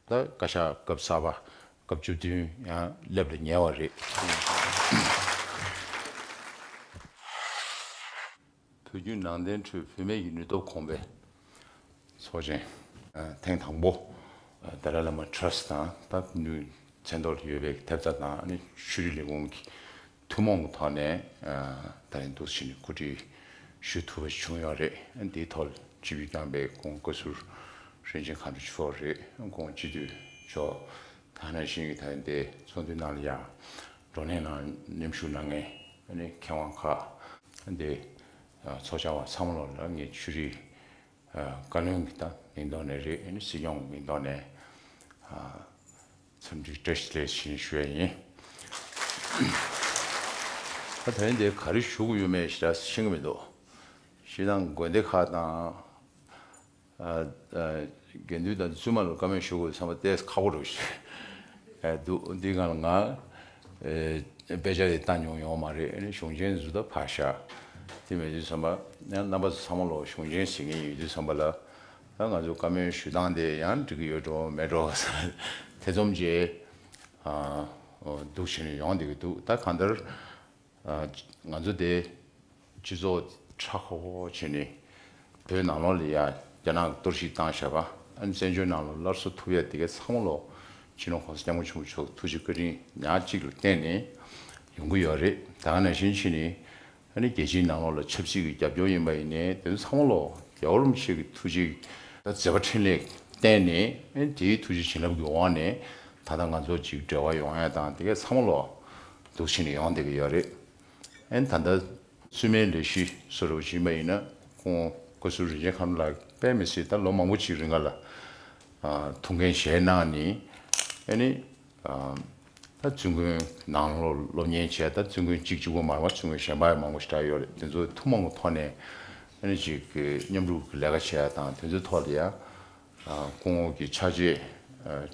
ད་བཀའ་ཤག་སྐབས་གསར་པ་སྐབས་བཅུ་བདུན་ཡང་སླེབས་ལ་ཉེ་བ་རེད། བོད་བརྒྱུད་ནང་བསྟན་ཁྲོད་བུད་མེད་ཀྱི་ནུས་སྟོབས་གོང་འཕེལ་ཚོགས་ཆེན། ཐེངས་དང་པོ་དཱ་ལའི་བླ་མ Trust དང་ད་ནུས་ཚན་ཐོག་ལ་ཡོད་པའི་ཐེབས་རྩ་དང་ནི་ཆོས་རིག་ལས་ཁུངས་ཀྱི་ཐུན་མོང་གི་ཐོག་ནས་ད་རིང་དུ་ཕྱི་ནས་བཀོད་སྒྲིག་ཞུ་ཐུབ་པ་བྱུང་ཡོད་རེད། དེའི་ཐོག་སྤྱི་འཐུས་རྐྱང་པས་ཁོང་བཀའ་ཟུར་ཧྲེན་ཅིན་ཁང་དུ་ཕྱོགས་རེད། ཁོང་སྤྱི་འཐུས་མཆོག་ཐ་ན་ཞིང་གི་ཐ་ན་དེ་ཚོགས་འདུའི་ནང་ལ་ཡང་བགྲོ་གླེང་ནང་མཉམ་ཞུགས་གནང་མཁན་མཁས་དབང་ཁག་དེ་ཚོགས་བཅར་བ་ཚང་མ་ལ་ལ་ངས་ཆོས་རིག་བཀའ་བློན་གྱི་མིང་ཐོག་ནས་རེད། སྲིད་སྐྱོང་གི་མིང་ཐོག་ནས། འཚམས་འདྲི་བཀྲ་ཤིས་ལེགས་ཤིང་ཞུ་བ་ཡིན། ད་བོད་འདིར་ག་རེ་བཞུགས་ཡོད་མེད་ཞེ་དྲགས་ཤིང་གི་མི་འདུག་ཞེ་སྡང་དགོན་སྡེ་ཁག་དང། དགེ་འདུན་དང་བཙུན་མ་ལ་བཀའ་མོལ་ཞུ་དགོས་ཚང་མ་བལྟས་ཁག་པོ་རེད་བཤད་འདུག་འདི་གང་ལ་ང་དཔེ་ཆ་དེ་བཏང་མྱོང་ཡོང་མ་རེད་གཞུང་ཆེན་བཟོ་ད་ཕར་བཞག་དེ་མེད་དུས་ཚང་མ་རྣམ་པ་ཚོ་ཚང་མ་ལོ་གཞུང་ཆེན་ཟེར་མཁན་ཡོད་དུས་ཚང་མ་ལ་ད་ང་ཚོས་བཀའ་མོལ་ཞུས་སྟངས་དེ་ཡང་འགྲིག་གི་ཡོད་འགྲོ་མེད་འགྲོ་ཐེ་ཚོམ་གྱི་འདུག་བྱས་ནས་ཡོང་བསྡད་ཀྱི་འདུག་ད་གང་ལྟར་ང་ཚོ་དེ་སྤྱི་ཚོགས་ཧྲག་ཧོ་ཧོ་བྱས་ནས་བོད་ནང་ལོགས་ལ་ཡ་རྒྱ་ནག་གཏོར་བཤིག་བཏང་ཤག་ཨ་ནི་བཙན་བྱོལ་ནང་ལོགས་སླར་གསོ་ཐུབ་ཡ་དེ་གའི་ཚང་མ་ལོགས་ཕྱི་ནང་གོང་ས་སྐྱབས་མགོན་ཆེན་པོ་མཆོག་ཐུགས་རྗེ་བཀའ་དྲིན་ཉག་གཅིག་ལ་བརྟེན་ནས་ཡོང་གི་ཡོད་རེད་ད་ག་ནང་བཞིན་ཕྱིན་ནས་ཨ་ནི་རྒྱལ་སྤྱིའི་ནང་ལོགས་ལ་ཆབ་སྲིད་ཀྱི་རྒྱབ་སྐྱོར་ཡིན་པ་ཡིན་ནའི་དེ་ཚོ་ཚང་མ་ལོགས་རྒྱལ་བོར་མི་ཤེས་ཀྱི་ཐུགས་རྗེ་མཛད་པ་འཕྲིན་ལས་བསྟན་ནས་དེའི་ཐུགས་རྗེ་བྱིན་རླབས་ཀྱི་འོག་ནས་ད་ལྟ་ང་ཚོ་གཅིག་འབྲེལ་བ་ཡོང་ཡ་དང་དེ་གས་ཚང་མ་ལོགས་འདུག་བྱས་ནས་ཡོང་བསྡད་ཀྱི་ཡོད་རེད་ཨ་ནི་ད་ལྟ་བཙུན་མའི་ལས་གཞི་སུ་རེ་བ་བྱིན་པ་ཡིན་ན་ཁོང་བཀའ་ཟུར་རིན་ཆེན་ཁ་ནོར་ལགས་པས་མི་སྲིད་ད་ལོ་མང་པོ་གཅིག་རེ་འགའ་ལ་ཐུགས་འགན་བཞེས་གནང་ནས་ཨ་ནི། ད་བཙུན་དགོན་ནང་སློབ་གཉེར་བྱས་ད་བཙུན་དགོན་གཅིག་བཅུ་དགོན་མར་མ་བཙུན་དགོན་གཞན་པ་ཡང་མང་པོ་ཞིག་གྲགས་ཡོད་རེད་དེ་ཚོ་ཐུགས་མང་པོ་ཐོག་ནས་ཨ་ཅིག་གི་མཉམ་རུབ་ཀྱི་ལས་ཀ་བྱས་དང་དེ་ཚོའི་ཐོག་ལ་ཡང་སྐུ་ངོ་གི་ཕྱག་རྗེས་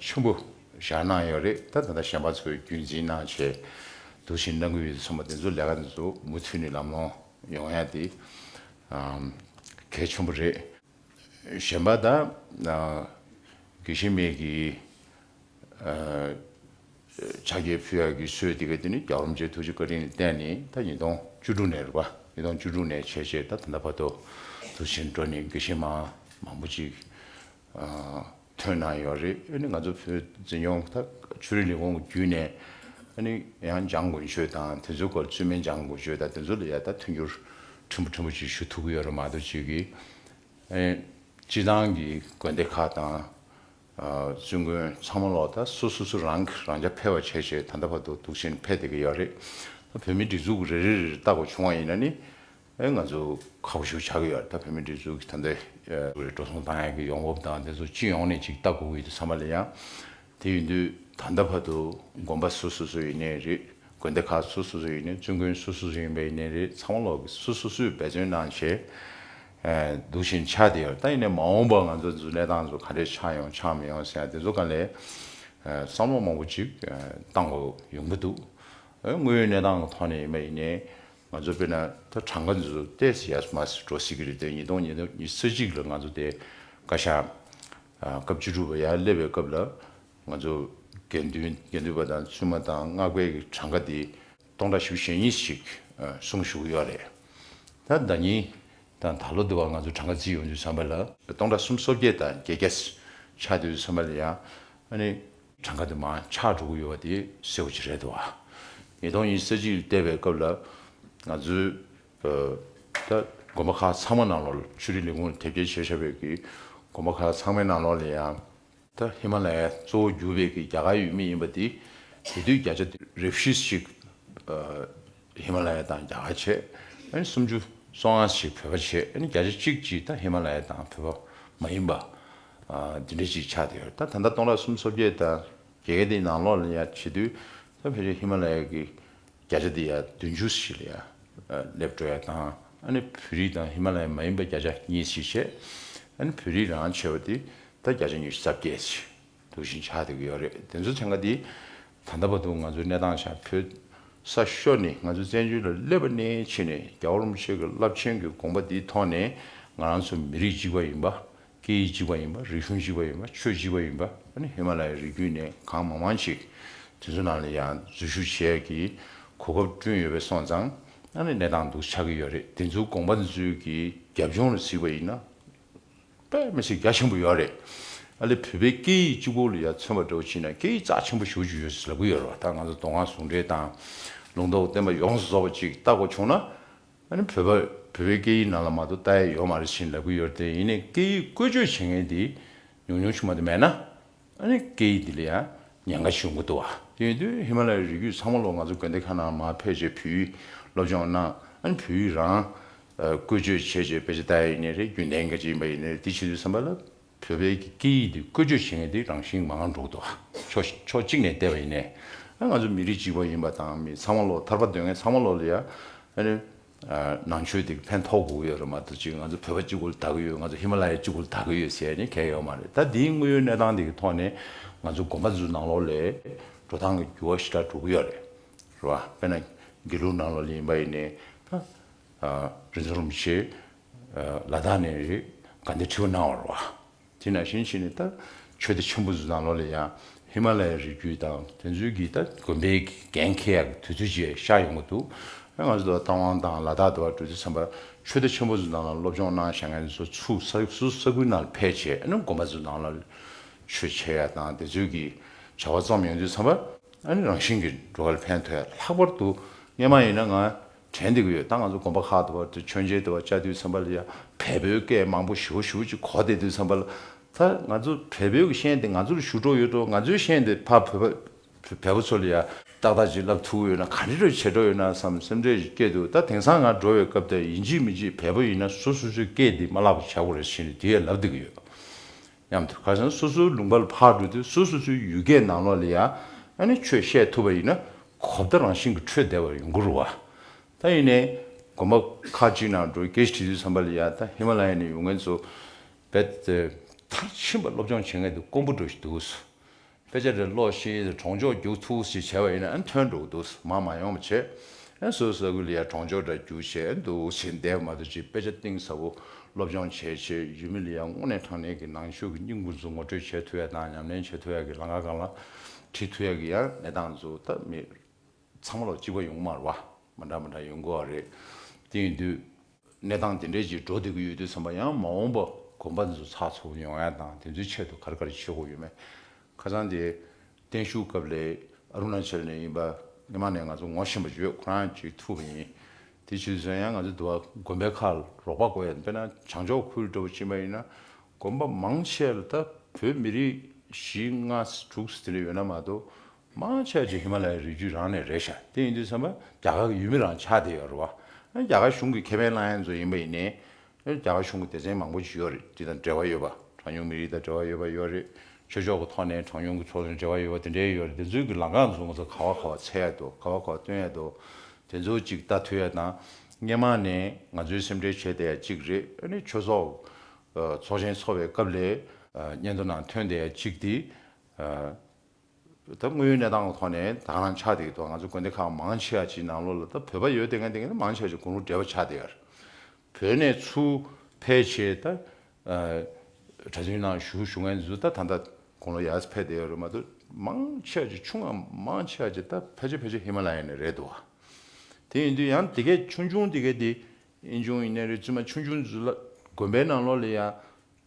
ཆེན་པོ་བཞག་གནང་ཡོད་རེད་ད་ད་ལྟ་གཞན་པ་ཚོའི་རྒྱུན་འཛིན་གནང་བྱས་འདུག་ཕྱིར་གནང་གི་ཡོད་དེ་ཚོ་མ་དེ་ཚོ་ལས་ཀ་དེ་ཚོ་མུ་མཐུད་ནས་ལམ་ལྷོང་ཡོང་ཡ་དེ་གལ་ཆེན་པོ་རེད། གཞན་པ་དག་གི་ཤི་རྨས་ཀྱི་ཕྱག་རྒྱའི་ཕུད་ཡར་གྱི་སྲོལ་དེ་ག་དེ་ནི་རྒྱ་རོམ་ཇའི་ཐུགས་རྗེ་བཀའ་དྲིན་ལ་བརྟེན་ནས་ད་ཉིས་སྟོང་བཅུ་དྲུག་ནས་རེད་པ་ཉིས་སྟོང་བཅུ་དྲུག་ནས་ཆད་ཆད་ད་ད་ལྟ་བར་དུ་དུ་ཕྱིན་འགྲོ་ནས་དགེ་བཤེས་མ་མང་པོ་ཅིག་ཐོན་གནང་ཡོད་རེད་ཨ་ནི་ང་ཚོ་བོད་འཛིན་སྐྱོང་ད་ཆུ་རིན་ལས་ཁུངས་ཀྱི་བརྒྱུད་ནས་ཨ་ནི་ཡང་སྦྱང་དགོས་ཆོས་དང་དེ་ཚོའི་སྐོར་ཚུལ་མིན་སྦྱང་དགོས་ཆོས་དང་དེ་ཚོ་ལ་ཡང་ད་མཐུན་འགྱུར་ཕྲན་བུ་ཕྲན་བུ་ཅིག་ཞུ་ཐུབ་ཀྱི་ཡོད་རེད་མ་གཏོགས་ཅིག་གིས་ཨ་ནི་སྤྱི་བཏང་གི་དགོན་སྡེ་ཁག་དང། བཙུན་དགོན་ཚང་མ་ལོག་ད་སུ་སུ་སུ་རང་གིས་རང་ཅག་ཕལ་བ་བྱས་བྱས་ད་ལྟ་བར་དུ་དུག་ཆེན་ཕལ་བསྡད་ཀྱི་ཡོད་རེད། ད་བོད་མིའི་སྒྲིག་འཛུགས་རེ་རེ་རེ་རེ་བལྟ་དགོས་བྱུང་བ་ཡིན་ན་ནི་ང་ཚོ་ཁག་ཞུགས་བྱ་གི་ཡོད་ད་བོད་མིའི་སྒྲིག་འཛུགས་ཀྱི་ད་ལྟའི་འགྲོ་སོང་ཏང་ཡོན་གྱི་ཡོང་འབབ་དང་དེ་ཚོ་སྤྱི་ཡོངས་ནས་ཅིག་ལྟ་དགོས་ཀྱི་འདུག་ཚང་མ་ལ་ཡང་དེ་ཡིན་དུས་ད་ལྟ་བར་དུ་དགོན་པ་སུ་སོ་སོ་ཡིན་ནས་རེད་དགོན་སྡེ་ཁག་སུ་སོ་སོ་ཡིན་ནས་བཙུན་དགོན་སུ་སོ་སོ་ཡིན་པ་ཡིན་ནས་རེད་ཚང་མ་ལོག་གི་སུ་སོ་སོས་འབད་བརྩོན་གནང་བྱས་འདུག་བཞིན་ཆགས་བསྡད་ཡོད་ད་ཡིན་ནས་མ་འོངས་པར་ང་ཚོ་འདི་ཚོ་གནས་སྟངས་འཚོ་ག་འདྲས་ཆགས་ཡོང་ཆགས་མི་ཡོང་ཟེར་ཡང་དེ་ཚོ་ག་ལས་བསམ་བློ་མང་པོ་ཅིག་གཏང་དགོས་ཡོང་གི་འདུག་དངོས་ཡོད་གནས་སྟངས་ཀྱི་ཐོག་ནས་ཡིན་པ་ཡིན་ནས། ང་ཚོ་དཔེར་ན་ད་གྲངས་ཀ་འདི་ཚོ་བལྟས་ཟིན་ཡག་མ་ཟིན་འགྲོ་སྲིད་ཀྱི་རེད་དེ་ཉིས་སྟོང་ཉེར་ཚེ་གཅིག་ལ་ང་ཚོ་དེ་བཀའ་ཤག་སྐབས་བཅུ་དྲུག་པ་ཡར་སླེབས་པའི་སྐབས་ལ་ང་ཚོ་དགེ་འདུན་དགེ་འདུན་པ་དང་བཙུན་མ་དང་སྔགས་དཔལ་གྱི་གྲངས་ཀ་དེ་སྟོང་ཕྲག་བཞི་བཅུ་ཞེ་གཉིས་ཤིག་གསུངས་བཞུགས་ཡོད་རེད་ད་ཟླ་གཉིས་དང་ད་ལོ་དེ་བར་ང་ཚོ་གྲངས་ཀ་རྩིས་ཡོང་དུས་བསམ་པ་ལ། སྟོང་ཕྲག་གསུམ་སོ་བརྒྱད་དང་བརྒྱད་བརྒྱ་ཆགས་དུས་བསམ་པ་ལ་ཡང་ཨ་ནི་གྲངས་ཀ་དེ་མང་ཆགས་འགྲོ་གི་ཡོད་པ་དེ་གསལ་བོ་ཅི་རེད་འདུག་བ། ཉིས་སྟོང་ཉིས་བརྒྱད་ཅིག་བལྟས་པའི་སྐབས་ལ་ང་ཚོའི་དགོན་པ་ཁག་ཚང་མ་ནང་ལོགས་ལ་ཆོས་རིག་ལས་ཁུངས་ལ་དེབ་སྐྱེལ་བྱས་བཞག་པའི་གི་དགོན་པ་ཁག་ཚང་མའི་ནང་ལོགས་ལ་ཡང། ཧི་མ་ལ་ཡའི་གཙོ་བོ་གྱུར་པའི་གི་རྒྱ་གར་ཡུལ་མི་ཡིན་པ་དེ་དེ་དུས་བརྒྱ་ཆ་རེ་བཞི་ཞིག་ཧི་མ་ལ་ཡ་དང་རྒྱ་གར་བྱས། སུམ་ཅུ་སོ་ལྔ་ཞིག་བོད་པ་བྱས། བརྒྱ་ཆ་གཅིག་གཅིག་ཧི་མ་ལ་ཡ་དང་བོད་པ་མ་ཡིན་པ། འདི་འདྲ་ཞིག་ཆགས་ཡོད་ད་ད་ལྟ་སྟོང་ཕྲག་གསུམ་སོ་བརྒྱད་ད་རྒྱལ་ཁའི་དེའི་ནང་ལོགས་ལ་ཡ་བྱེད་དུས་ད་ཕལ་ཆེར་ཧི་མ་ལ་ཡ་གི་བརྒྱ་ཆ་དེ་ཡ་བདུན་བཅུ་ཞིག་ལ་ཡ་སླེབས་འགྲོ་ཡ་དང་ཨ་ནི་བོད་རིགས་དང་ཧི་མ་ལ་ཡ་མ་ཡིན་པ་བརྒྱ་ཆ་གཉིས་ཞིག་བྱེད་ཨ་ནི་བོད་རིགས་རང་བྱེད་པ་དེ་ད་བརྒྱ་ཆ་ཉི་ཤུ་རྩ་བརྒྱད་ཞིག་དུ་བཞིན་ཆགས་འདུག་གི་ཡོད་རེད་དེ་ཚོ་ཚན་ཁ་དེ་ད་ལྟ་བར་དུ་ང་ཚོའི་གནས་སྟངས་ཆགས་ཕོད་ས་ཤོར་ནི་ང་ཚོ་བཙན་བྱོལ་ལ་སླེབས་པ་ནས་ཕྱིན་ནས་རྒྱ་བོར་མོ་ཆེ་གི་རླབས་ཆེན་གི་དགོངས་པ་དེའི་ཐོག་ནས་ང་རང་ཚོ་མི་རིགས་གཅིག་པ་ཡིན་པ་སྐད་ཡིག་གཅིག་པ་ཡིན་པ་རིག་གཞུང་གཅིག་པ་ཡིན་པ་ཆོས་གཅིག་པ་ཡིན་པ་ནི་ཧི་མ་ལ་ཡའི་རི་རྒྱུད་ནས་གང་མང་མང་ཅིག་དེ་ཚོ་ནང་ལ་ཡང་འཛུལ་ཞུགས་བྱས་ཀྱི་གོ་སྐབས་བསྐྲུན་ཡོད་པས་སོང་ཙང་ནང་ལའི་གནས་སྟངས་སྡུག་ཆགས་ཀྱི་ཡོད་རེད་དེ་ཚོའི་དགོངས་པ་ཚོའི་གི་རྒྱབ་ལྗོངས་ལ་གཟིགས་པ་ཡིན་ན་པད་མ་ཆེ་རྒྱ་ཆེན་པོ་ཡོད་རེད་ཨ་ལེ་བོད་པའི་སྐད་ཡིག་གཅིག་པོ་ལ་ཡར་མཚོན་པ་འདྲ་བོ་བྱིན་ན་སྐད་ཡིག་རྩ་ཆེན་པོ་ཞུགས་ཀྱི་ཡོད་ཟེར་ལབ་ཀྱི་ཡོད་རེད་བ་ད་ང་ཚོ་མདོ་སྔགས་ཟུང་འབྲེལ་དང་ལུང་རྟོགས་བསྟན་པ་ཡོངས་སུ་རྫོགས་པ་ཅིག་བལྟ་དགོས་བྱུང་ན་ང་ནི་བོད་པ་རེད། བོད་པའི་སྐད་ཡིག་ནང་ལ་མ་གཏོགས་ལྟ་ཡ་ཡོད་མ་རེད་བཞིན་ལབ་གི་ཡོད་རེད་དེ་ཡིན་ནས་སྐད་ཡིག་བཀོལ་སྤྱོད་བྱེད་མཁན་དེ་ཉུང་ཉུང་ཆུང་མ་དེ་མེད་ན། ཨ་ནི་སྐད་ཡིག་འདི་ལ་ཡང་ཉེན་ཁ་ཞིག་ཡོང་གི་འདུག་བ། དེ་ཡིན་དུས་ཧི་མ་ལ་ཡའི་རི་རྒྱུད་ཚང་མ་ལོག་ང་ཚོ་དགོན་སྡེ་ཁག་ནང་མ་ཕེབས་རྗེས་བོད་ཡིག་སློབ་སྦྱོང་གནང། ཨ་ནི་བོད་ཡིག་རང་བཀོལ་སྤྱོད་བྱས་རྗེས་དཔེ་ཆ་ལྟ་ཡ་ཡིན་ནི་རེད་རྒྱུན་ལྡན་གྱི་གཅིག་ཡིན་པ་ཡིན་ནི་རེད་དེ་བྱེད་དུས་བསམ་པ་ལ། བོད་པའི་སྐད་ཡིག་འདི་བཀོལ་སྤྱོད་བྱེད་མཁན་དེ་རང་བཞིན་མང་འགྲོ་འདུག་ཕྱོགས་ཕྱོགས་གཅིག་ནས་བལྟས་པ་ཡིན་ནས། ང་ཚོ་མི་རིགས་གཅིག་པ་ཡིན་པ་དང་མི་ཚང་མ་བློ་ཐར་པ་འདོད་མཁན་ཚང་མ་བློ་ཡ། ནང་ཆོས་དེ་ཕན་ཐོགས་དགོས་ཀྱི་ཡོད་རེད་མ་གཏོགས་གཅིག་ང་ཚོ་བོད་པ་གཅིག་པུར་ལྟ་གི་ཡོད་ང་ཚོ་ཧི་མ་ལ་ཡ་གཅིག་པུར་ལྟ་གི་ཡོད་ཟེར་ནས་གལ་ཡོད་མ་རེད་ད་དེའི་དངོས་ཡོད་གནས་སྟངས་དེ་གི་ཐོག་ནས་ང་ཚོ་དགོན་པ་འདི་ཚོ་ནང་ལོགས་ལས་འགྲོ་སྟངས་ཀྱི་འགྱུར་བ་ཞི་དྲག་འགྲོ་གི་ཡོད་རེད་རེད་བ་དཔེར་ན་དགེ་ལུགས་ནང་ལོགས་ལས་ཡིན་པ་ཡིན་ནས། རིན་ཆེན་རིན་པོ་ཆེ། ལ་དྭགས་ནས་རེད་ག་འདི་ཁྲིའུ་སྣང་བར་བ། དེས་ན་གཞན་ཞིག་ནས་ད་ཆོས་སྡེ་ཆེན་པོ་ཟུ་དང་ལོ་ལེ་ཡང་ཧི་མ་ལ་ཡའི་རི་རྒྱུད་དང་དེ་ཚོའི་གིས་ད་དགོན་པའི་འགན་ཁེ་ཡག་གི་དུས་ཚོད་ཅིག་ཤར་ཡོང་གི་འདུག་ང་ཚོ་ད་རྟ་དབང་དང་ལ་དྭགས་དུ་བ་འགྲོ་དུས་མཚམས་པར་ཆོས་སྡེ་ཆེན་པོ་ཟུ་དང་ལ་སློབ་སྦྱོང་གནང་ཞེ་ང་ཚོ་ཚུགས་ས་སུ་ས་ཁུལ་ནང་ཕེ་བྱས་ཨ་ནུ་དགོན་པ་ཟུ་དང་ལ་ཆོས་འཆད་ཡག་དང་དེ་ཚོའི་གིས་བྱ་བ་བརྩམས་ཡོང་དུས་མཚམས་པར་ཨ་ནི་རང་བཞིན་གིས་འགྲོ་ག་ལ་ཕན་ཐོགས་ཡག་ལྷག་པར་དུ་ངས་མ་ཡིན་ན་ང་དྲན་འདི་གི་ཡོད་ད་ང་ཚོ་དགོན་པ་ཁག་དུ་བར་དུ་མཆོད་མཇལ་དུ་བ་བཅའ་དུས་ཚན་པ་ལ་ཡང་བལ་བོའི་སྐད་མང་པོ་ཞུ་ཞུ་ཅིག་གོ་དེ་དུས་ཚན་པ་ལ་ད་ང་ཚོ་བལ་བོའི་གི་ཤན་དེ་ང་ཚོར་ཞུ་གྲོགས་ཡོད་དོ་ང་ཚོའི་ཤན་དེ་ཕ་བོད་པ་བལ་བོ་ཚོ་ལ་ཡང་ཏག་ཏག་ཅིག་ལབ་ཐུག་ཡོད་ན་ག་འདྲི་འདྲོ་བྱེད་འགྲོ་ཡོད་ན་བསམ་སེམས་ཁྲལ་ཞིག་སྐྱེ་འདུག་ད་དེང་སང་ང་འགྲོ་བའི་སྐབས་ད་ཡིན་གཅིག་མིན་གཅིག་བལ་བོ་ཡིན་ན་སུ་སུ་ཚོའི་སྐད་འདི་མ་ལབ་པ་བྱ་དགོས་རེད་བྱས་ནས་དུས་ཡས་ལབ་འདི་གི་ཡོད། མཉམ་དུ་ཁ་སང་སོ་སོའི་ལུང་པ་ལ་ཕར་བགྲོས་ཏེ་སོ་སོ་སོའི་ཡུལ་སྐད་ནང་ལོགས་ལ་ཡང་ཆོས་བཤད་ཐུབ་པ་ཡིན་ན་གོ་བརྡ་རང་བཞིན་གྱི་འཕྲོད་བདེ་བ་ཡོང་གི་རུ་བ། ད་ཡིན་ནས་དགོན་པ་ཁག་ཅིག་ནང་འགྲོ་གེ་ཞིག་བྲིས་ཚུལ་བསམ་པ་ལ་ཡང་ད་ཧི་མ་ལ་ཡ་ནས་ཡོང་མཁན་ཚོ་བས་མཐར་ཕྱིན་པ་སློབ་སྦྱོང་བྱེད་མཁན་དེ་དཀོན་པོ་འགྲོ་བཞིན་འདུག་སོ། དཔེ་ཆ་རེ་ཀློག་ཤེས་ཚེ་གྲོང་ཆོག་རྒྱུགས་ཐུགས་ཞེས་བྱ་བ་ཡིན་ན་ཐོན་འགྲོ་གི་འདུག་མ་མ་ཡོང་བ་བྱས། བཟོད་ས་ཁུལ་ལ་ཡང་གྲོང་ཆོག་འདྲ་རྒྱུགས་བྱས་འདུག་ཅེས་འདས་མ་ཐག་ཅིག་དཔེ་ཆ་གཏིང་ཟབ་པོ་སློབ་སྦྱོང་བྱས་ཆེད་ཡུལ་མི་ལ་ཡང་དངོས་གནས་དྲང་གནས་ཀྱི་ནང་ཆོས་ཀྱི་སྙིང་པོ་མཛུབ་ངོ་སྤྲོད་བྱེད་ཐུབ་ཡ་དང་ཉམས་ལེན་བྱེད་ཐུབ་ཡ་གི་ལང་ཀ་གང་ལ་ཁྲིད་ཐུབ་ཡ་གི་ཡང་གནས་སྟངས་མཛོད་ཐབས་མེད། ཚང་མ་ལོ་གཅིག་པ་ཡོང་མར་བ་མ་འདྲ་མ་འདྲ་ཡོང་དགོས་བ་རེད་དེ་ཡིན་དུས། གནས་སྟངས་དེ་འདྲའི་ཅིག་འགྲོ་བདེ་གི་ཡོད་དུས་བསམ་པ་ཡང་མ་འོངས་པ་དགོན་པ་འདི་ཚོ་ཚགས་ཚུགས་ཡོང་ཡ་དང་དེ་ཚོའི་ཆེད་དུ་གར་གར་བྱེད་དགོས་ཡོད་མེད་ཁ་ཚང་དེ་བརྟན་བཞུགས་སྐབས་ལས་ཨ་རུ་ན་ཅལ་ནས་ཡིན་པ་སྣེ་མང་ནས་ང་ཚོ་ངོ་བཞིན་པ་བརྗོད་ཁོ་རང་ཅིག་ཐུག་པ་ཡིན་དེ་བྱེད་དུས་ཚོད་ཡང་ང་ཚོ་འདུ་བ་དགོན་པའི་ཁ་རོག་པ་དགོས་ཡ་དཔེར་ན་བྱང་ཕྱོགས་ཁུལ་འདྲ་བོ་ཅིག་མ་ཡིན་ན་དགོན་པ་མང་ཆེ་ལ་ད་བོད་མི་རིགས་གཞིས་ལྔ་དྲུག་དེ་འདྲ་ཡོད་ན་མ་གཏོགས་དམངས་ཆགས་ཀྱི་ཧི་མ་ལའི་རི་རྒྱུད་རང་ནས་རེད་ཤག་དེ་ཡིན་དུས་བསམ་པ་རྒྱ་གར་གི་ཡུལ་མི་རང་ཆགས་དེ་ཡོད་རེད་བ། རྒྱ་གར་གཞུང་གི་ཁེ་ཕན་བླང་ཡ་མཛོད་ཡིན་པ་ཡིན་ནའི། རྒྱ་གར་གཞུང་གི་སྡེ་ཚན་མང་པོ་ཅིག་ཡོད་རེད་དེ་དང་འབྲེལ་བ་ཡོད་པ་གྲངས་ཉུང་མི་རིགས་དང་འབྲེལ་བ་ཡོད་པ་ཡོད་རེད་ཆོས་ཕྱོགས་ཀྱི་ཐོག་ནས་གྲངས་ཉུང་གི་ཚོགས་ཆུང་འབྲེལ་བ་ཡོད་པ་དེ་འདྲའི་ཡོད་རེད་དེ་ཚོའི་གི་ལང་ཀང་བཟོ་ང་ཚོ་ག་བ་ག་བ་འཚལ་ཡ་འདུག་ག་བ་ག་བ་སྟོན་ཡ་འདུག་དེ་ཚོ་ཅིག་ལྟ་ཐུ་ཡ་དང། སྔན་མ་ནས་ང་ཚོའི་སེམས་ཁྲལ་བྱས་དེ་ཡ་ཅིག་རེད་ཨ་ནི་ཆོས་ཚོགས། ཚོགས་ཆེན་འཚོགས་པའི་སྐབས་ལས། སྙན་ཐོ་ནང་ཐོན་དེ་ཡ་ཅིག་དེ། ད་དངོས་ཡོད་གནས་སྟངས་ལ་ཐོག་ནས་དང་རང་ཆགས་དེའི་ཐོག་ང་ཚོ་དགོན་སྡེ་ཁག་མང་ཆེ་བ་ཅིག་ནང་ལོགས་ལ་ད་བོད་པ་ཡོད་དེ་ང་དེ་ག་ནས་མང་ཆེ་བ་ཅིག་དགུང་ལོ་བགྲེས་པ་ཆགས་དེ་ཡར་བོད་ནས་ཚུར་ཕེབས་ཆེད་ད་གྲྭ་བཙུན་ནང་བཞུགས་བཞུགས་ངན་ཚུལ་ད་ད་ལྟ་དགུང་ལོ་ཡར་ཕེབས་དེ་ཡར་རེད་མ་གཏོགས་མང་ཆེ་བ་ཅིག་ཆུང་ང་མང་ཆེ་བ་ཅིག་ད་ཕལ་ཆེར་ཕལ་ཆེར་ཧི་མ་ལ་ཡ་ནས་རེད་འདུག་བ་དེ་ཡིན་དུས་ཡང་དེ་གས་ཆུང་ཆུང་དེ་གས་དེ་ཨེ་འབྱུང་ཡིན་ནའི་རེད་བཙུན་མ་ཆུང་ཆུང་ཚུལ་ལ་དགོན་པའི་ནང་ལོགས་ལ་ཡང་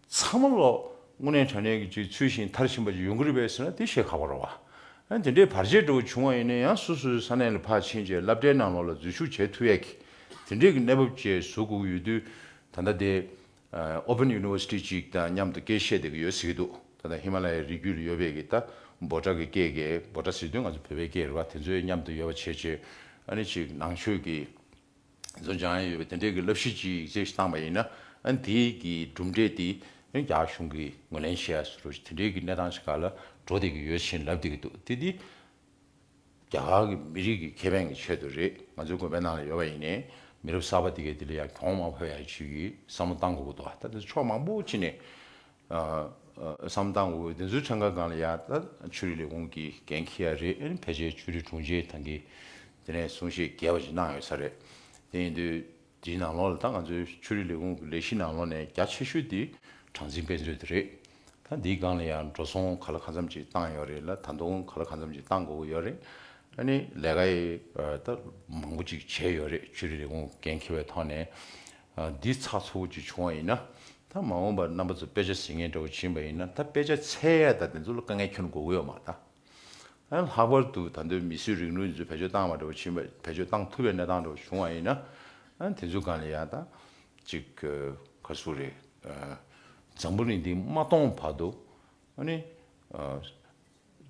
ཚང་མ་ལོ་སྔོན་ནས་དྲ་གནས་ཀྱི་སྤྱོད་ཚུལ་བཞིན་དར་བཞིན་པ་ཅིག་ཡོང་གི་རེད་པས་ཟེར་ན་དེ་བཤད་ཁག་པོ་རེད། ཡང་དེ་འདྲའི་བར་ཆད་འདྲ་བོ་བྱུང་བ་ཡིན་ན་ཡང་སོ་སོའི་ས་གནས་ལ་ཕར་ཕྱིན་རྗེས་བསླབ་གྲྭའི་ནང་ལོགས་ལ་འཛུལ་ཞུགས་བྱས་ཐུབ་ཡག་གི། དེ་འདྲའི་གི་གནས་བབ་བཅས་བཟོ་དགོས་ཀྱི་ཡོད་དུས་ད་ལྟ་དེ། Open University ཅིག་དང་མཉམ་དུ་སྐད་བཤད་བསྡད་ཀྱི་ཡོད་ཟེར་གྱི་འདུག་ད་ལྟ་ཧི་མ་ལ་ཡའི་རི་རྒྱུད་ལ་ཡོད་པའི་གི་ད་འབོ་དྲག་གི་སྐད་ཀྱི་འབོ་དྲག་ཟེར་དུས་ང་ཚོ་བོད་པའི་སྐད་རེད་བ་དེ་ཚོའི་མཉམ་དུ་ཡོད་པ་བྱས་རྗེས་ཨ་ནི་ཅིག་ནང་ཆོས་ཀྱི། བཟོ་སྦྱང་ཡས་ཡོད་པའི་དེ་འབྲེལ་གྱི་བསླབ་གཞི་གཅིག་ཡིག་ཚད་གཞི་བཏང་བ་ཡིན་ན་དེ་གི་གྲུབ་འབྲས་དེ་རྒྱ་གཞུང་གིས་ངོས་ལེན་བྱས་ཡས་སུ་རུ་དེ་འབྲེལ་གྱི་གནས་སྟངས་ཆེ་ཁག་ལ་འགྲོ་བསྡད་ཀྱི་ཡོད་བྱིན་རླབས་བསྡད་ཀྱི་འདུག་དེ་དེ་རྒྱ་གར་གྱི་མི་རིགས་ཀྱི་ཁེ་ཕན་གྱི་ཆེད་དུ་རེད་ང་ཚོའི་དགོན་པའི་ནང་ལ་ཡོད་པ་ཡིན་ནའི་མི་རབས་གསར་པ་དེ་གས་དེ་ལ་ཡང་གྱོང་མང་བོ་ཡང་བྱེད་ཀྱི་བསམ་བློ་བཏང་དགོས་ཀྱི་འདུག་ད་ལྟ་ཕྱོགས་མང་པོ་ཕྱིན་ནས་བསམ་སྟངས་འོས་བདེན་ཚུལ་ཁྲིམས་ཁ་སྒང་ལ་ཡ་ད་ཆུ་རིས་ལས་འོང་གི་གན་ཁི་ཡ་རེད་ཨེ་ཕལ་ཆེར་ཆུ་རིས་དྲུང་ཆེ་ཐང་གིས་དེ་ནས་གསུང་བཤད་རྒྱས་པ་ཞིག་གནང་ཡོད་ས་རེད་དེ་ཡིན་དུས་དེའི་ནང་ལོག་ལ་ད་ང་ཚོའི་ཆུ་རིས་ལས་འོང་གི་ལས་གཞི་ནང་ལོག་ནས་རྒྱ་ཆེ་ཤོས་དེ་གྲངས་འཛིན་དཔེ་མཛོད་དེ་རེད་ད་འདིའི་སྒང་ལ་ཡ་འགྲོ་སོང་ག་ལ་ག་འཚམས་ཅིག་བཏང་ཡོད་རེད་ལ་ད་འདོང་ག་ལ་ག་འཚམས་ཅིག་བཏང་དགོས་ཀྱི་ཡོད་རེད་ཨ་ནི་ལས་ཀ་ཡ་ད་མང་པོ་ཅིག་བྱས་ཡོད་རེད་ཆུ་རིས་ལས་འོང་གི་གན་ཁི་བའི་ཐོག་ནས་འདི་ཚགས་ཚུགས་ཀྱིས་བྱུང་བ་ཡིན་ན། ད་མ་འོངས་པར་རྣམ་པ་ཚོས་དཔེ་ཆ་ཟིན་ངེས་འདྲ་བོ་བྱིན་པ་ཡིན་ན་ད་དཔེ་ཆ་ཚད་ཡག་དང་དེ་ཚོ་ལ་དཀའ་ངལ་ཁྱོན་འགོག་ཡོད་མ་ད། ཡང་ལྷག་པར་དུ་ད་ལྟོའི་མི་སུས་རིག་ནུས་ཚོས་བེད་སྤྱོད་བཏང་བ་འདྲ་བོ་བྱིན་པ་བེད་སྤྱོད་བཏང་ཐུབ་པའི་གནས་སྟངས་འདྲ་བོ་བྱུང་བ་ཡིན་ན། དེ་ཚོའི་སྒང་ལ་ཡང་ད། ཅིག། ཁ་སུ་རེད། འཛམ་བུ་གླིང་འདི་མ་སྟོང་བར་དུ། ཨ་ནི།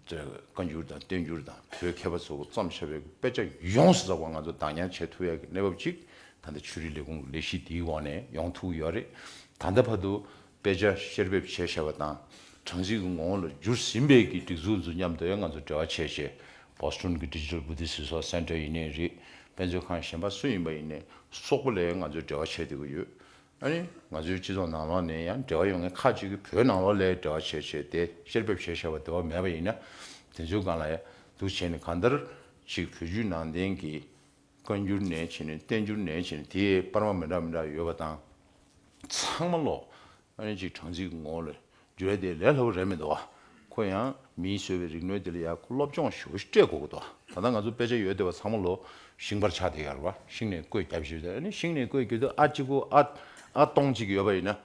བཀའ་འགྱུར་དང་བསྟན་འགྱུར་དང་བོད་མཁས་པ་ཚོ་སྐུ་བརྩམས་ཞབས་པའི་དཔེ་ཆ་ཡོངས་སུ་བསགས་པ་ང་ཚོ་བདག་ཉར་བྱེད་ཐུབ་ཡག་གི་གནས་བབ་ཅིག་ད་ལྟ་ཆོས་རིག་ལས་ཁུངས་ཀྱི་ལས་གཞི་འདིའི་འོག་ནས་ཡོང་ཐུབ་ཡོད་རེད། ད་ལྟ་བར་དུ་དཔེ་ཆ་བཤེར་འབེབས་བྱས་ཞབས་པ་དང་གྲངས་གཞི་གི་ངོ་བོ་ལ་འགྱུར་ཟིན་པས་ཀྱི་སྒྲིག་འཛུགས་འཛུགས་མཉམ་དེ་བས་ང་ཚོ་འབྲེལ་བ་ཆེས་ཆེ Boston གྱི Digital Buddhist Resource Center ཡིན་ནས་རིགས་དཔེ་མཛོད་ཁང་གཞན་པ་སུ་ཡིན་པ་ཡིན་ནས་སོགས་པ་ལས་ང་ཚོས་འབྲེལ་བ་ཆེས་དེ་གི་ཡོད། ཨ་ནི་ང་ཚོའི་སྤྱི་ཚོགས་ནང་ལོགས་ནས་ཡང་འབྲེལ་བ་ཡོང་མཁན་ཁག་ཅིག་གིས་བོད་ནང་ལོགས་ལས་འབྲེལ་བ་བྱེད་བྱེད་དེ་བཤེར་འབེབས་བྱེད་བྱེད་པ་དེ་བ་མེད་པ་ཡིན་ན་དེ་ཚོའི་སྒང་ལ་འདུག་བྱས་ནས་གང་ལྟར་ཅིག་བོད་བརྒྱུད་ནང་བསྟན་གྱི་བཀའ་འགྱུར་ནས་བྱས་ནས་བསྟན་འགྱུར་ནས་བྱས་ནས་དེ་སྤར་མ་མི་འདྲ་མི་འདྲ་ཡོད་པ་དང་ཚང་མ་ལོགས་ཨ་ནི་ཅིག་གྲངས་ཚིག་ངོ་ལ་བརྗོད་དེ་ལས་སླ་བོ་རེད་མི་འདུག་ཁོ་ཡང་མིའི་སོས་པའི་རིག་གནོད་དེ་ལ་ཡར་ཁུ་སློབ་སྦྱོང་ཞུ་སྤྲད་དགོས་ཀི་འདུག་ད་ལྟ་ང་ཚོ་དཔེ་ཆ་ཡོད་བདེ་བ་ཚང་མ་ལོ་ཤིང་པར་ཆགས་དེ་ཡར་བ་ཤིང་ནས་བརྐོས་རྒྱབ་བཞི་བཟའ་ནི་ཤིང་ནས་བརྐོས་རྒྱུ་དེ་ཨ་གཅིག་གུ་ཨ་ཨ་སྟོང་གཅིག་ཡོད་པ་ཡིན་ན་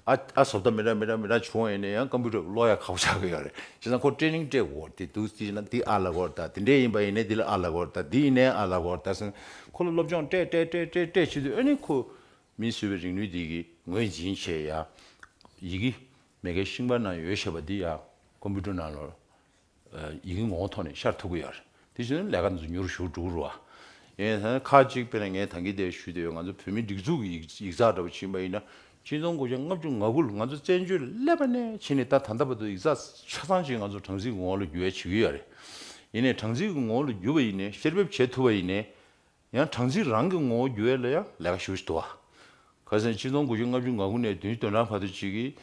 ཨ་ཨ་ཟོབ་ད་མི་ར་མི་ར་མི་ར་བྱུང་བ་ཡིན་ན་ཡང་སྐམ་པོ་རེད་བློ་ཡ་ཁག་པོ་ཆགས་ཀི་ཡོད་རེད་བྱས་ཙང་ཁོ་སྤྲད་རིང་སྤྲད་དགོས་དེ་འདུག་དེ་བྱས་ན་འདི་ཨ་ལ་གོ་ད་དེ་འདྲས་ཡིན་པ་ཡིན་ནས་འདི་ལ་ཨ་ལ་གོ་ད་འདི་ཡིན་ནས་ཨ་ལ་གོ་ད་ཟེར་ནས་ཁོ་ལ་སློབ་སྦྱོང་སྤྲད་སྤྲད་སྤྲད་སྤྲད་སྤྲད་བྱེད་དུས་ཨ་ནི་ཁོ་མིས་བཟོས་པའི་རིག་ནུས་འདི་གིས་ངོས་འཛིན་བྱས། ཡི་གེ་མེད་ཁའི་ཤིང་པར་ནང་ཡོད་ཞེས་པ་འདི་ཡང་ཀོམ་པུ་ཏར་ནང་ལ་ཡི་གེ་ངོ་བོ་ཐོག་ནས་ཤར་ཐུབ་ཀྱི་ཡོད་རེད། དེ་བཞིན་དུ་ལས་ཀ་འདི་ཚོ་མྱུར་ཞུགས་འགྲུབ་རུ་ཨེ། ཁ་ཅིག་དཔེར་ན་ངས་ད་གིན་དེ་ཞུས་དེ་ཡོད་ང་ཚོ་བོད་མིའི་སྒྲིག་འཛུགས་ཀྱི་ཡིག་ཡིག་ཚགས་འདྲ་པོ་བྱིན་པ་ཡིན་ན་སྤྱི་ཚོགས་མགོ་ཆ་ལྔ་བཅུ་ང་དགུ་ལ་ང་ཚོ་བཙན་བྱོལ་ཀླད་པ་ནས་ཕྱིན་ནས་ད་ད་ལྟ་བར་དུ་ཡིག་ཚགས་ཆ་ཚང་ཞིག་ང་ཚོ་གྲངས་ཚིག་གི་ངོ་བོ་ལ་བསྒྱུར་ཡ་བྱེད་ཀྱི་ཡོད་རེད། ཡིན་ནས་གྲངས་ཚིག་གི་ངོ་བོ་ལ་བསྒྱུར་བ་ཡིན་ནས་བཤེར་འབེབས་བྱེད་ཐུབ་པ་ཡིན་ནས་ཡང་གྲངས་འཛིན་རང་གི་ངོ་བོ་བསྒྱུར་བས་ལ་ཡང་ལས་ཀ་ཞུ་བྱེད་དུ་བ། ཁ་སང་སྤྱི་སྟོང་དགུ་བཅུ་ལྔ་བཅུ་ང་དགུ་ནས་བདུན་སྟོན་གྲངས་བར་དུ་གཅིག་གིས་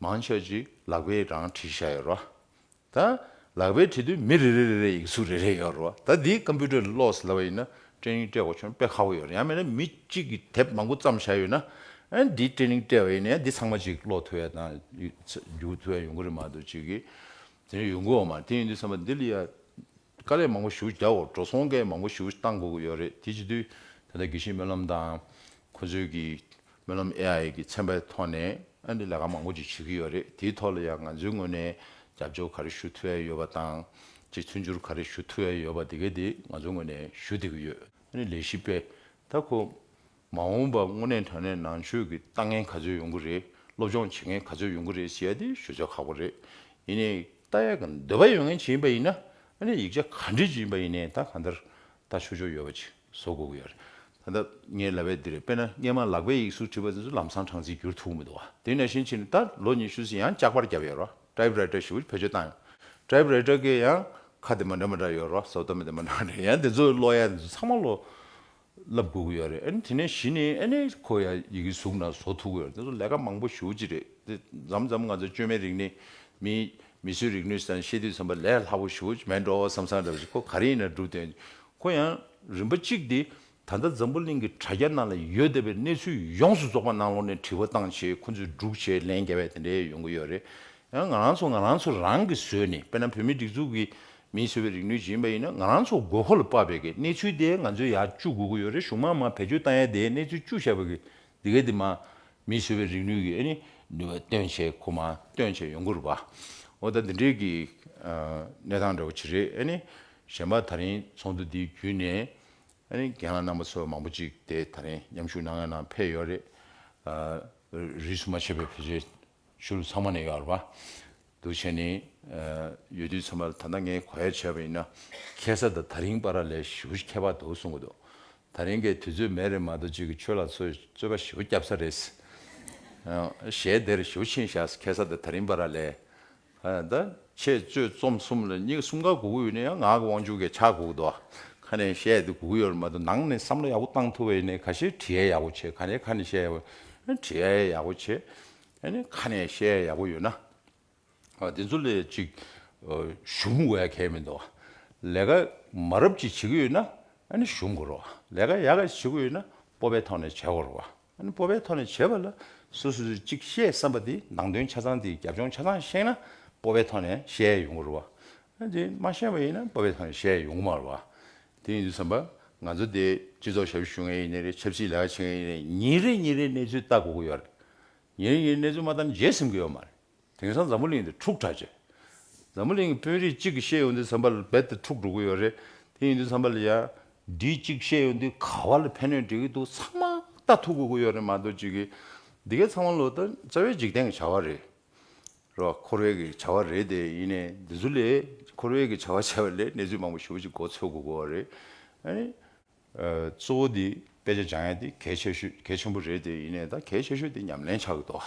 མང་ཆགས་ཅིག་ལག་པས་རང་བྲིས་བཞག་ཡོད་རོ། ད་ལག་པས་བྲིས་དུས་མི་རེ་རེ་རེ་རེའི་ཡིག་གཟུགས་རེ་རེ་ཡོད་རོ། ད་འདིའི་ཀམ་པུའུ་ཏར་ལ་ཀློག་ཟླ་བ་ཡིན་ན་སྐྲན་རིང་སྤྲད་འོག་ཆོན་དཔེ་ཁག་པོ་ཡོད་རེད་ཡང་མེད་ན་མི་གཅིག་གིས་དེབ་མང་པོ་བརྩམས་བཞག་ཡོད་ན་ཡང་འདིའི་སྐྲན་རིང་སྤྲད་བ་ཡིན་ན་ཡང་འདི་ཚང་མ་ཅིག་ཀློག་ཐུབ་ཡ་དང་བརྒྱུད་ཐུབ་ཡ་ཡོང་གི་རེད་མ་གཏོགས་ཅིག་གིས་དེ་འདྲ་ཡོང་གི་འོག་མ་དེ་ཡིན་དུས་བསམ་པ་འདི་ལ་ཡ། དཀའ་ལས་མང་པོ་ཞུ་རྒྱ་འོག་འགྲོ་སོང་སྐད་མང་པོ་ཞུ་བཏང་དགོས་ཀྱི་ཡོད་རེད་དེ་བྱེད་དུས་ད་ལྟ་དགེ་བཤེས་སྨོན་ལམ་དང་ཁོ་ཚོའི་གི་སྨོན་ལམ AI གི་ཚན་པའི་ཐོག་ནས་ཨ་འདི་ལས་ཀ་མང་པོ་ཅིག་བྱེད་ཀྱི་ཡོད་རེད་དེའི་ཐོག་ལ་ཡང་ང་ཚོའི་ངོས་ནས་རྒྱབ་སྐྱོར་ག་རེ་ཞུ་ཐུ་ཨེ་ཡོད་པ་དང་ཅིག་མཐུན་འགྱུར་ག་རེ་ཞུ་ཐུ་ཨེ་ཡོད་པ་དེ་གའི་དེ་ང་ཚོའི་ངོས་ནས་ཞུ་བསྡད་ཀྱི་ཡོད། ཨ་ནི་ལས་བྱེད་པས་ད་ཁོ་མ་འོངས་པར་དངོས་གནས་དོན་གནད་ནང་ཆོས་ཀྱི་ལྟ་ངན་ག་ཚོད་ཡོང་གི་རེད་སློབ་སྦྱོང་བྱེད་མཁན་ག་ཚོད་ཡོང་གི་རེད་ཟེར་ཡ་དེ་ཞུ་ཚོད་ཁག་པོ་རེད་ཡིན་ནའི་ལྟ་ཡ་གི་འདོད་པ་ཡོད་མཁན་བྱེད་ཡིན་པ་ཡིན་ན་ཨ་ནི་ཡིག་ཆ་ག་འབྲི་བྱེད་ཡིན་པ་ཡིན་ནའི་ད་ག་འདིར་ལྟ་ཆོག་ཆོག་ཡོད་པ་ཅིག་བཟོ་དགོས་ཀྱི་ཡོད་རེད་ད་ལྟ་ངའི་ལབ་པའི་འདི་རེད་དཔེར་ན་སྔས་མ་ལག་པས་ཡིག་གཟུགས་བྲིས་པ་དེ་ཚོ་ལམ་སང་གྲངས་ཚིག་བསྒྱུར་ཐུབ་མི་འདུག་བ་དེ་ནས་ཤིན་ཕྱིན་ནས་ད་ལོ་ཉི་ཤུ་ཟིན་ཡང་ལྕགས་པར་བརྒྱབ་ཡོད་རེད་བ་ཏྲའི་བྲའི་ཏྲ་ཞེས་པ་བེད་སྤྱོད་བཏང་ཡོད་ཏྲའི་བྲའི་ཏྲ་ཀའི་ཡང་ཁ་དེ་མ་འདྲ་མ་འདྲ་ཡོད་རེད་བ་ཟོ་དོན་མི་དེ་མ་འདྲ་འདྲ་ཡང་དེ་ཚོ་ཀློག་ཡ་དེ་ཚོ་ཚང་མ་ཀློག་བསླབ་དགོས་ཀྱི་ཡོད་རེད་དེ་ནས་གཞི་ནས་ཨ་ནེ་ཁོ་ཡ་ཡི་གི་གཟུགས་ན་བཟོ་ཐུབ་ཀྱི་ཡོད་རེད་དེ་ཚོ་ལས་ཀ་མང་པོ་ཞུ་ཀྱི་རེད་དེ་འཛམ་འཛམ་ང་ཚོ་བཅོས་མའི་རིག་གནས་མི་མི་ཚོའི་རིག་ནུས་སམ་ཤེས་དུས་ཚོམ་པ་ལས་ལྷག་པོ་ཞུ་ཀྱི་མེད་འགྲོ་བསམ་བསམ་རེད་བཞིན་ཁོ་ག་རེ་ཡིན་ན་སྒྲུབ་དོན་ཁོ་ཡང་རིམ་པ་གཅིག་དེ་ད་ལྟ་འཛམ་བུ་གླིང་གི་དྲ་རྒྱ་ནང་ལ་ཡོད་བསྡད་པའི་གནས་ཚུལ་ཡོངས་སུ་རྫོགས་པ་ནང་ལོགས་ནས་དྲི་བ་བཏང་ཆེད་ཁོ་ཚོས་སྒྲུག་བྱེད་ལན་རྒྱ་བས་དེ་འདྲས་ཡོང་གི་ཡོད་རེད་ཡང་ང་རང་ཚོ་ང་རང་ཚོ་རང་གིས་བཟོས་ནས་དཔེར་ན་བོད་མིའི་སྒྲིག་འཛུགས་ཀྱི་མིས་བཟོས་པའི་རིག་ནུས་སྦྱིན་པ་ཡིན་ན་ང་རང་ཚོ་དགོས་མཁོ་ལ་དཔག་པའི་གི་གནས་ཚུལ་དེ་ང་ཚོས་ཡར་བཅུག་དགོས་ཀྱི་ཡོད་རེད་གཞུང་མང་མང་བེད་སྤྱོད་བཏང་ཡ་དེའི་གནས་ཚུལ་བཅུག་བཞག་པ་གི་དེ་གའི་དེ་མ་མིས་བཟོས་པའི་རིག་ནུས་གི་སྟོན་བྱས་ཁོ་མ་སྟོན་བྱས་ཡོང་གི་རུ་བ་འོ་ད་འདི་འདྲའི་གི་གནས་སྟངས་འདྲ་བོ་ཆི་རེད་ཨ་ནི་གཞན་པ་ད་རིང་ཚོགས་འདུ་དེའི་བརྒྱུད་ནས་ཨ་ནི་རྒན་ལགས་རྣམ་པ་ཚོ་མང་པོ་ཅིག་དེ་ད་རིང་མཉམ་ཞུགས་གནང་ཡ་ན་འཕེལ་ཡོད་རེད་རིས་སུ་མ་ཆད་པའི་བེད་སྤྱོད་ཤུ་རུ་ཚང་མ་ནས་ཡོད་རེད་པ། འདུ་བྱེད་ནི། ཡོད་དུས་ཚང་མ་ལ་ད་ལྟ་ངས་གོ་ཡ་བྱས་པ་ཡིན་ན། ཁྱད་ས་དང་ད་རིང་པ་ར་ལས་ཞི་བུ་ཞིག་ཁྱད་པར་འདུག་གསུང་གི་འདུག་ད་རིང་གི་དུས་ཚོད་མེད་རེད་མ་གཏོགས་གཅིག་གིས་ཁྱོད་ལ་ཚོས་རྩོད་པ་ཞི་བུ་བསྐྱབ་ས་རེད། ཞེས་དེར་ཞི་བུ་ཕྱིན་བཞག་ཁྱད་ས་དང་ད་རིང་པ་ར་ལས། ད་ཁྱེད་གཙོས་རྩོམ་གསུམ་ལ་སྙིང་གསུམ་ག་གུག་ཡོད་ནི་ཡང་ངག་གི་དབང་ཕྱུག་གི་ཕྱག་གུག་ཏོ། ཁ་ནས་བཤད་དེ་གུག་ཡོད་མ་གཏོགས་ནང་ནས་བསམ་བློ་ཡག་པོ་བཏང་ཐུབ་པ་ཡིན་ནི་ག་ཤེད་བྲིས་ཡ་ཡག་པོ་བྱེད་ག་ནས་ཁ་ནས་བཤད་ཡ་པོ་བྲིས་ཡ་ཡག་པོ་བྱེད་ཡ་ནི་ཁ་ནས་བཤད་ཡ་ཡག་པོ་ཡོད་ན་དེ་ཚོ་ལས་ཅིག་གཞུམ་དགོས་ཡ་གལ་མི་འདུག་ལས་ཀ་མ་རབས་ཅིག་བྱེད་ཀྱི་ཡོད་ན་ནི་གཞུམ་དགོས་རོགས་ལས་ཀ་ཡག་ག་ཅིག་བྱེད་དགོས་ཡོད་ན་སྤོབས་པའི་ཐོག་ནས་བྱེད་དགོས་རོགས། སྤོབས་པའི་ཐོག་ནས་བྱེད་པ་ལ་སོ་སོས་ཅིག་བཤད་བསམ་པ་དེ་ནང་དོན་ཆ་ཚང་དེའི་རྒྱབ་ལྗོངས་ཆ་ཚང་ཤེས་ན་སྤོབས་པའི་ཐོག་ནས་བཤད་ཡོང་གི་རུང་བ། དེ་མ་ཤེས་པ་ཡིན་ན་སྤོབས་པའི་ཐོག་ནས་བཤད་ཡོང་གི་མ་རུང་བ། དེ་ཡིན་དུས་བསམ་པ་ང་ཚོ་དེ་སྤྱི་ཚོགས་ཞབས་ཞུ་ཞུ་མཁན་ཡིན་ནི་རེད་ཆབ་སྲིད་ལས་ཀ་བྱེད་མཁན་ཡིན་ནི་རེད་ཉིན་རེ་ཉིན་རེའི་གནས་ཚུལ་ལྟ་དགོས་ཀྱི་ཡོད་རེད། ཉིན་རེ་ཉིན་རེའི་གནས་ཚུལ་མ་ལྟར་འཇལ་ཟིན་གྱི་ཡོད་མ་རེད། དེང་སང་འཛམ་བུ་གླིང་འདི་འཁྲུག་དྲག་ཅེས། འཛམ་བུ་གླིང་གི་དཔོན་རིགས་གཅིག་གིས་བཤད་ཡོང་དུས་ཚན་པ་ལ་རྦད་དེ་འཁྲུག་འགྲོ་གི་ཡོད་རེད། དེ་ཡིན་དུས་ཚན་པ་ལ་ཡང་འདྲིས་གཅིག་བཤད་ཡོང་དུས་ག་བ་ལ་ཕན་ནུས་འགྲིག་གི་འདུག་ཚང་མ་ལྟ་ཐུག་དགོས་ཀྱི་ཡོད་རེད་མ་གཏོགས་ཅི་གི། འདི་གའི་ཚང་མ་ལོ་ལྟ་རྩ་བའི་འཇིག་རྟེན་གྱི་བྱ་བ་རེད། རེད་བ། འཁོར་བའི་གི་བྱ་བ་རེད་དེ་ཡིན་ནས་འདི་ཚོ་ལས་འཁོར་བའི་གི་བྱ་བ་བྱས་པ་ལས་གནས་ཚུལ་མང་པོ་ཞུ་བ་ཅིག་གོ་ཚོད་དགོས་དགོས་བ་རེད། གཙོ་བོ་དེ་དཔེ་ཆ་སྦྱང་ཡ་དེ་གལ་ཆེ་ཤོས་གལ་ཆེན་པོ་རེད་དེ་ཡིན་ནའི་ད་གལ་ཆེ་ཤོས་དེ་ཉམས་ལེན་བྱ་གི་འདུག་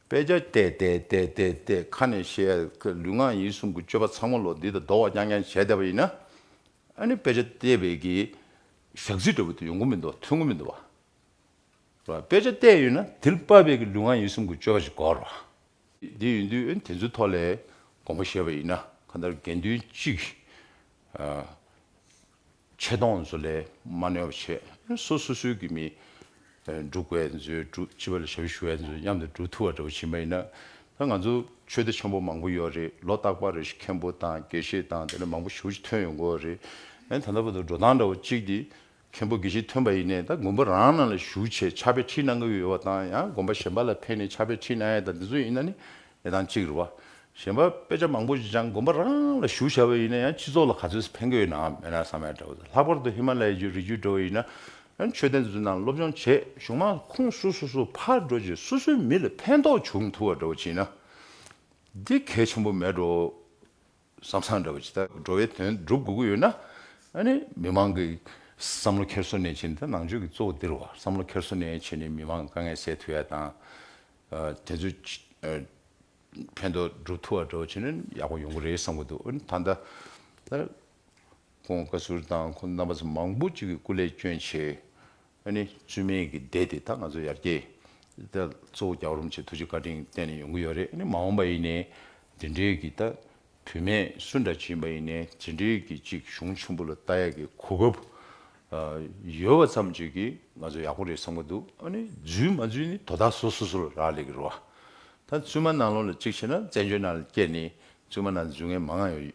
ཨ། དཔེ་ཆ་བལྟས་བལྟས་བལྟས་བལྟས་བལྟས་ཁ་ནས་བཤད་ཡ་གི་ལུས་ངག་ཡིད་གསུམ་གི་སྤྱོད་པ་ཚང་མ་ལོ་འདི་དང་ཟློ་བ་རྐྱང་རྐྱང་བྱས་བསྡད་པ་ཡིན་ན། ཨ་ནི་དཔེ་ཆ་བལྟས་བལྟས་ཀྱི་ཞག་ཚིག་འདྲ་བོ་དེ་ཡོང་གི་མི་འདུག་ཐོན་གི་མི་འདུག་བ། དཔེ་ཆ་བལྟས་ཡོད་ན་དེར་དཔག་པའི་ཀྱི་ལུས་ངག་ཡིད་གསུམ་གྱི་སྤྱོད་པ་ཞིག་གོ་རོགས། དེ་ཡིན་དུས་ཨ་ནི་དེ་ཚོའི་ཐོག་ལས་དགོངས་པ་བཞེས་པ་ཡིན་ན་གང་ལྟར་དགེ་འདུན་གཅིག་གིས་ཨ། ཆད་སྡོང་བཟོ་ལས་མ་གནོད་པ་བྱེད། སོ་སོ་སོའི་གི་མི། འབྲུག་བལ་མཛོད་འབྲུག་སྤྱི་བལ་ཞབས་ཞུ་བལ་མཛོད་མཉམ་དུ་འབྲུག་ཐུ་བ་འདྲ་བོ་བྱེད་མ་ཡིན་ན། ང་ཚོ་ཆོས་སྡེ་ཆེན་པོ་མང་པོ་ཡོད་རེད་ལོ་རྟག་པར་རེ་ཞིག་མཁན་པོ་དང་དགེ་བཤེས་དང་དེ་འདྲ་མང་པོ་ཞུ་ཅི་ཐོན་ཡོང་དགོས་རེད། ད་ལྟ་བར་དུ་འགྲོ་སྟངས་འདྲ་བོ་གཅིག་དེ། མཁན་པོ་དགེ་བཤེས་ཐོན་པ་ཡིན་ནས་ད་དགོན་པ་རང་ནང་ལ་ཞུགས་ཆེད་ཕྱག་དཔེ་ཁྲིད་གནང་གི་ཡོད་པ་དང་ཡང་དགོན་པ་གཞན་པ་ལ་ཕན་ནས་ཕྱག་དཔེ་ཁྲིད་གནང་ཡ་དང་དེ་ཚོ་ཡིན་ན་ནི་ནས་དང་གཅིག་རེད། གཞན་པ་དཔེ་ཆ་མང་པོ་ཞིག་ཀྱང་དགོན་པ་རང་ལ་ཞུགས་བྱ་བ་ཡིན་ན་ཡང་སྤྱི་ཚོགས་ལ་ག་ཚོད་ཕན་དགོས་ཡོད་ནའང་མེད་ན་བསམ་ཡག་འདྲ་བོ་ཟེར། ལྷག་པར་དུ་ཧི་མ་ལ་ཡའི་རི་རྒྱུད་འགྲོ་བ་ཡིན་ན་ཡང་མཆོད་རྟེན་འཛུགས་དང་སློབ་སྦྱོང་བྱེད་གཞུང་མང་ཁོངས་སུ་སོ་སོ་ཕར་འགྲོ་རྗེས་སོ་སོའི་མི་ལ་ཕན་ཐོགས་འབྱུང་ཐུབ་བ་འདྲ་བོ་བྱས་ན་འདི་གལ་ཆེན་པོ་མེད་འགྲོ། བསམ་བཟང་འདྲ་བ་ཇི་ལྟར་འགྲོ་བའི་དོན་སྒྲུབ་དགོས་ཀྱི་ཡོད་ན། མི་མང་གི་བསམ་བློ་འཁྱེར་སོ་ནས་བྱས་ནས་ད་ནང་ཆོས་ཀྱི་གཙོ་བོ་འདིར་བ་བསམ་བློ་འཁྱེར་སོ་ནས་བྱས་ནས་མི་མང་དཀའ་ངལ་སེལ་ཐུབ་ཡ་དང། དེ་ཚོའི་ཕན་ཐོགས་སྒྲུབ་ཐུབ་བ་འདྲ་བ་བྱས་ན་ཡག་པོ་ཡོང་གི་རེད་བསམ་གྱི་འདུག་ད་ལྟ། ཁོང་བཀའ་ཟུར་དང་ཁོང་རྣམ་པ་ཚོ་མང་པོ་ཅིག་གིས་སྐུ་ལས་སྐྱོན་ཆེ་ཨ་ནི་བཅོས་མིན་གྱི་སྡེ་དེ་དག་ང་ཚོས་ཡར་རྒྱས། གཙོ་བོ་རྒྱ་རོམ་གྱི་ཐུགས་རྗེ་བཀའ་དྲིན་བརྟེན་ནས་ཡོང་གི་ཡོད་རེད་ཨ་ནི་མ་འོངས་པ་ཡིན་ནའི་འདི་འདྲའི་གི་ད་བུད་མེད་སུ་འདྲ་བྱིན་པ་ཡིན་ནའི་ཇི་འདྲའི་གི་ཅིག་གཞུང་ཆེན་པོ་ལ་ལྟ་ཡག་གི་གོ་སྐབས་ཡོད་བ་ཙམ་གྱིས་གི་ང་ཚོ་ཡག་པོ་རེད་བསམ་གི་འདུག་ཨ་ནི་འཛུལ་མ་འཛུལ་ནི་དོ་བདག་སོ་སོ་སོ་ལ་རག་ལས་གི་རོ་ཨ། ད་བཙུན་མ་ནང་ལོག་ལ་གཅིག་བྱས་ན་བཙན་བྱོལ་ནང་ལ་སྐྱེས་ནས་བཙུན་མ་ནང་འཛུལ་ངེས་མང་ཡོད།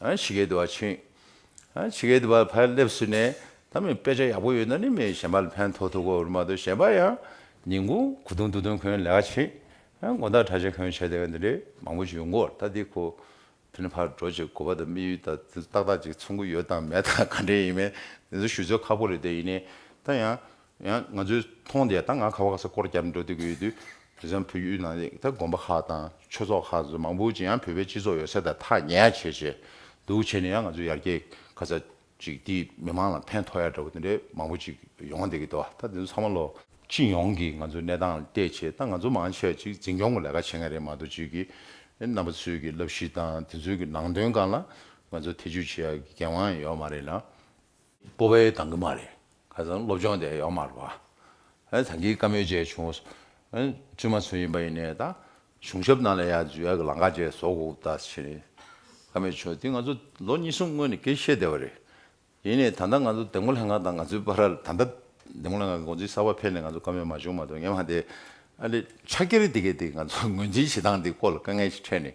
ཇི་སྐད་དུ་བ་ཕྱིན། ཇི་སྐད་དུ་བར་ཕར་སླེབས་ཟིན་ནས་ད་མི་དཔེ་ཆ་ཡག་པོ་ཡོད་ན་ནི་མི་གཞན་པར་ཕན་ཐོགས་ཐུག་གོ་རུ་མ་གཏོགས་གཞན་པར་ཡང་ཉིན་གུང་གོ་དུང་འདུག་དོན་ཁོའི་ལས་ཀ་ཕྱིན། མགོ་འདག་ཁྲ་ཆེ་ཁོའི་བྱས་ལས་ཀ་འདི་འདྲའི་མང་པོ་ཞིག་ཡོང་གོ་ད་འདི་ཁོ་ཕིན་ཕར་འགྲོ་ཅིག་གོ་བ་དང་དམིགས་ཡུལ་དང་དེ་ཚོ་ཏག་ཏག་ཅིག་མཚུངས་གི་ཡོད་དང་མེད་དང་ག་འདྲས་ཡིན་མིན་དེ་ཚོ་ཞུ་ཚོད་ཁག་པོ་རེད་དེ་ཡིན་ནའི་ད་ཡང་ཡང་ང་ཚོས་མཐོང་བསྡད་ད་ང་ཁ་བ་ག་ས་སྐོར་བརྒྱབ་འགྲོ་འདོད་ཀྱི་ཡོད་དུས། དེ་སང་བོད་ཡུལ་ནང་ལས་ད་དགོན་པ་ཁག་དང་ཆོས་ཚོགས་ཁག་ཚོ་མང་པོ་ཅིག་ཡང་བོད་པའི་སྤྱི་ཚོགས་ཡོད་ས་དང་ཐག་ཉེ་ཡ་བྱས་བྱས་འདུག་བྱས་ནས་ཡང་ང་ཚོས་ཡར་རྒྱས་ག་ས་ཅིག་དེ་མི་མང་ལ་ཕན་ཐོག་ཡ་འདྲ་བོ་དེ་འདྲའི་མང་པོ་ཅིག་ཡོང་བསྡད་ཀྱི་འདུག་ད་དེ་ཚོ་ཚང་མ་ལོ། སྤྱི་ཡོངས་ཀྱི་ང་ཚོའི་གནས་སྟངས་བལྟས་བྱས་ད་ང་ཚོ་མང་ཆེ་བ་ཅིག་འཛིན་སྐྱོང་གི་ལས་ཀ་བྱེད་མཁན་རེད་མ་གཏོགས་ཅིག་གིས་རྣམ་པ་ཚོས་ཀྱི་བསླབ་གཞི་དང་དེ་ཚོའི་གི་ནང་དོན་གང་ལ་ང་ཚོ་ཐེ་བྱུས་བྱེད་ཡ་གི་འགན་དབང་ཡང་ཡོད་མ་རེད་ལ། སྤོ་བའི་གདང་གི་མ་རེད། ཁ་སང་སློབ་སྦྱོང་དེ་ཡོག་མ་རེད་བ། ད་གིའི་བཀའ་མོལ་བཅས་བྱུང། བཙུན་མ་ཚུལ་ཡིན་པ་ཡིན་ནས་ད། གཞུང་ཞབས་རྣམས་ལ་ཡང་འཇུ་ཡག་གི་ལང་ཀ་བཅས་བཟོ་དགོས་ཀི་ད་བྱས། བཀའ་མོལ་བྱུང་དེ་ང་ཚོ་ལོ་གཉིས་གསུམ་སྔོན་ནས་ཀི་བཤད་བསྡད་བ་རེད། ཡིན་ནས་ད་ལྟ་ང་ཚོ་དེ་མགོ་ལྷེ་ང་དང་ང་ཚོའི་པ་ར་ལ་ད་ལྟ་དེ་མགོ་ལྷེ་ང་གི་འགོ་འཛིན་གསར་བ་ཕེབས་ནས་ང་ཚོ་བཀའ་མོལ་མ་བྱུང་མ་གཏོགས་ངེད་མ་དེ། ཨ་ལེ་ཕྱག་འཁྱེར་དེ་གི་དེ་ང་ཚོ་ངོས་འཛིན་བྱེད་སྟངས་དེ་སྐོར་ལ་དཀའ་ངལ་ཞིག་འཕྲད་ནས།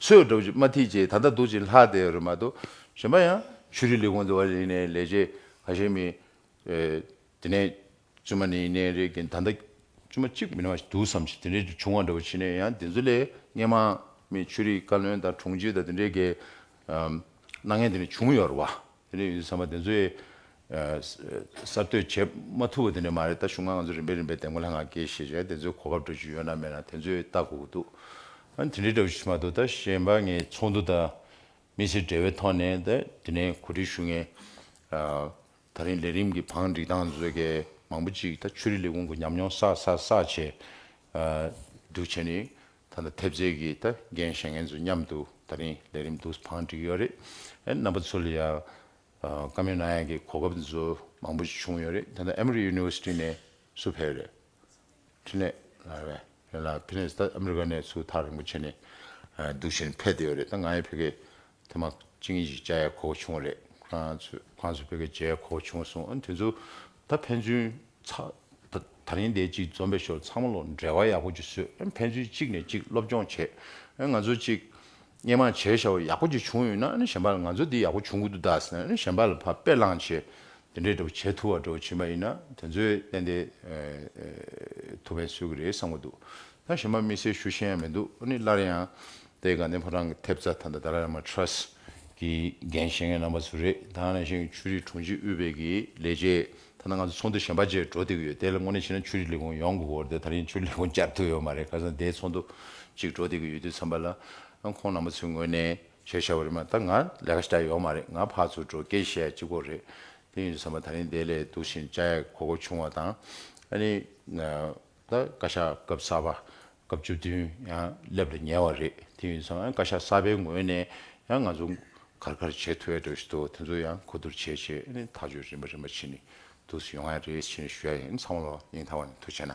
ཚོས་སྒྲོག་ཅིག་མ་ཐིག་ཅིག་ད་ལྟ་འདུག་ཅིག་ལྷག་དེ་རུ་མ་གཏོགས་གཞན་པ་ཡང་ཆུ་རི་ལི་གུང་འདི་བ་རིག་ནས་ལས་བྱེད་ག་ཤེད་མི་དེ་ནས་བཙུན་མ་ནི་ནས་རེད་གིན་ད་ལྟ་བཙུན་མ་གཅིག་མིན་བ་ཞིག་འདུག་བསམ་ཞིག་དེ་འདྲའི་བྱུང་བ་འདྲ་བོ་བྱེད་ནས་ཡང་དེ་ཚོ་ལས་སྙན་མ་མི་ཆུ་རི་བཀའ་བློན་དང་དྲུང་ཆེ་དང་དེ་འདྲའི་གའི་སྣང་བརྙན་དེ་འདྲ་བྱུང་ཡོད་རེད་བ། དེ་ནས་ཡོད་དུས་ཚང་མ་དེ་ཚོའི་གསར་གཏོད་བྱེད་མ་ཐུབ་པ་དེ་འདྲ་མ་རེད་ད་གཞུང་ང་ང་ཚོ་རིམ་པས་རིམ་པས་དེ་མགོ་ལྷ་ང་དགེ་བཤེས་བྱས་དེ་ཚོའི་གོ་བབ་འགྲོ་རྒྱུ་ཡོད་ན་མེད་ན་དེ་ཚོས་ལྟ་དགོས་ཀྱི་འདུག་ཨ་དེ་འདྲའི་འདྲ་བོ་ཞིག་མ་གཏོགས་ད་གཞན་པ་ངས་ཚོགས་འདུ་དང་མི་ཚེ་འབྲེལ་བའི་ཐོག་ནས་ད་དེ་ནས་གོ་སྒྲིག་ཞུ་ངེས། ད་རིང་ལས་རིམ་གྱི་བང་སྒྲིག་སྟངས་དེ་ཚོ་གས་མང་པོ་ཅིག་ད་ཆོས་རིག་ལས་ཁུངས་ཀྱི་ཉམས་མྱོང་བསགས་བསགས་བསགས་བྱས་འདུག་བྱས་ནས་ད་ལ་ཐེབས་རྩས་ཀྱི་ད་རྒན་གཞས་ངན་ཚོ་མཉམ་དུ་ད་རིང་ལས་རིམ་དུ་བང་བསྒྲིགས་ཡོད་རེད་ཨེ་རྣམ་པ་ཚོ་ལ་ཡང་བཀའ་མོལ་གནང་ཡག་གི་གོ་སྐབས་ཚོ་མང་པོ་ཞིག་བྱུང་ཡོད་རེད་ད་ལ་ཨ་མི་རི University ནས་སུ་ཕེབས་རེད་ཕྲིན་ལས་ལགས་རེད་རེད་ལགས་ཕིན་ལེས་ད་ཨ་མི་རི་ཀ་ནས་སུ་ཐག་རིང་པོ་ཆད་ནས་འདུག་བཞིན་ཕེབས་བསྡད་ཡོད་རེད་ད་ང་ཡང་ཕེབས་ཀའི་ཐེངས་མ་གཅིག་གཉིས་ཤིག་བཅར་ཡག་གོ་བ་བྱུང་བ་རེད་ཁོང་ཚོ་ཁོང་ཚོ་ཕེབས་ཀའི་མཇལ་ཡག་གོ་བ་བྱུང་སོང་དེ་ཚོ་ད་ཕན་ཚུན། ད་རིང་འདས་གཅིག་འཛོམས་པའི་ཞོར་ཚང་མ་ལོ་འབྲེལ་བ་ཡག་པོ་གཅིག་བཟོས་ཕན་ཚུན་གཅིག་ནས་གཅིག་སློབ་སྦྱོང་བྱེད་ང་ཚོ་གཅིག། སྙན་མང་བྱས་ཤ་བོ་ཡག་པོ་གཅིག་བྱུང་ཡོད་ན་གཞན་པ་ལ་ང་ཚོ་འདི་ཡག་པོ་བྱུང་གི་འདུག་ད་གཞན་པ་ལ་ཕ་དཔེ་བླངས་བྱས་དེ་འདྲས་འདྲ་པོ་བྱེད་ཐུབ་བ་འདྲ་བོ་བྱིན་པ་ཡིན་ན་དེ་ཚོས་གཏན་དེ་ཐུགས་ཕན་གསོས་གི་རེད་བསམ་གི་འདུག་ད་གཞན་པ་དམིགས་བསལ་ཞུ་ཤེས་ཡང་མི་འདུག་སླར་ཡང། དེ་ག་ནི་ཕོ་བྲང་གི་ཐེབས་རྩ་ཐ་མདའ་དར་མ Trust གི་འགན་བཞེས་མཁན་རྣམ་པ་ཚོ་རེད་ད་ནས་བཞིན་ཆུ་རིགས་དྲུང་ཆེ་དབུས་བེད་ཀྱི་ལས་བྱེད་ཐ་ན་ང་ཚོ་ཚོགས་འདུ་གཞན་པ་བཅས་འགྲོ་བསྡད་ཀྱི་ཡོད་དེ་ལ་དངོས་གནས་བྱས་ན་ཆུ་རིགས་ལས་ཁུངས་ཡོང་དགོས་སྐོར་དེ་ད་ཡིན་ཆུ་རིགས་ལས་ཁུངས་བསྐྱར་ཐོན་ཡོད་མ་རེད་ཁ་སང་དེའི་ཚོགས་འདུ་གཅིག་འགྲོ་བསྡད་ཀྱི་ཡོད་དུས་འཚམས་པ་ལ་ཁོང་རྣམ་པ་ཚོའི་ངོས་ནས་བྱས་བྱ་བ་རེད་མ་ད་ང་ལས་ཀ་བྱས་ཡོད་མ་རེད་ང་ཕར་ཚུར་འགྲོ་སྐད་བཤད་ཡག་ཅི་དགོས་རེད་དེ་ཡིན་དུས་འཚམས་པ་ད་ཡིན་དེ་ལས་སྡུག་བཞིན་བཅའ་ཡག་གོ་གོ་ཆུང་བ་དང་ཨ་ནི། ད་བཀའ་ཤག་སྐབས་གསར་པ་སྐབས་བཅུ་བདུན་ཡང་སླེབས་ལ་ཉེ་བ་རེད་དེ་ཡིན་ཙང་བཀའ་ཤག་གསར་པའི་ངོས་ནས་ཡང་ང་ཚོ་གར་གར་བྱེད་ཐུབ་ཡ་འགྲོ་ཞིག་འདུག་དེ་ཚོ་ཡང་གོ་བསྡུར་བྱས་རྗེས་ཨེ་ནས་ཐག་གཅོད་རིམ་པ་རིམ་པ་བྱེད་ནས་འདུག་སུ་ཡོང་ཡ་རེད་བྱེད་ནས་ཞུ་ཡ་ཡིན་ཚང་མ་ལོ་གཉིས་མཐའ་བར་ནས་ཐུགས་ཆེ་ན།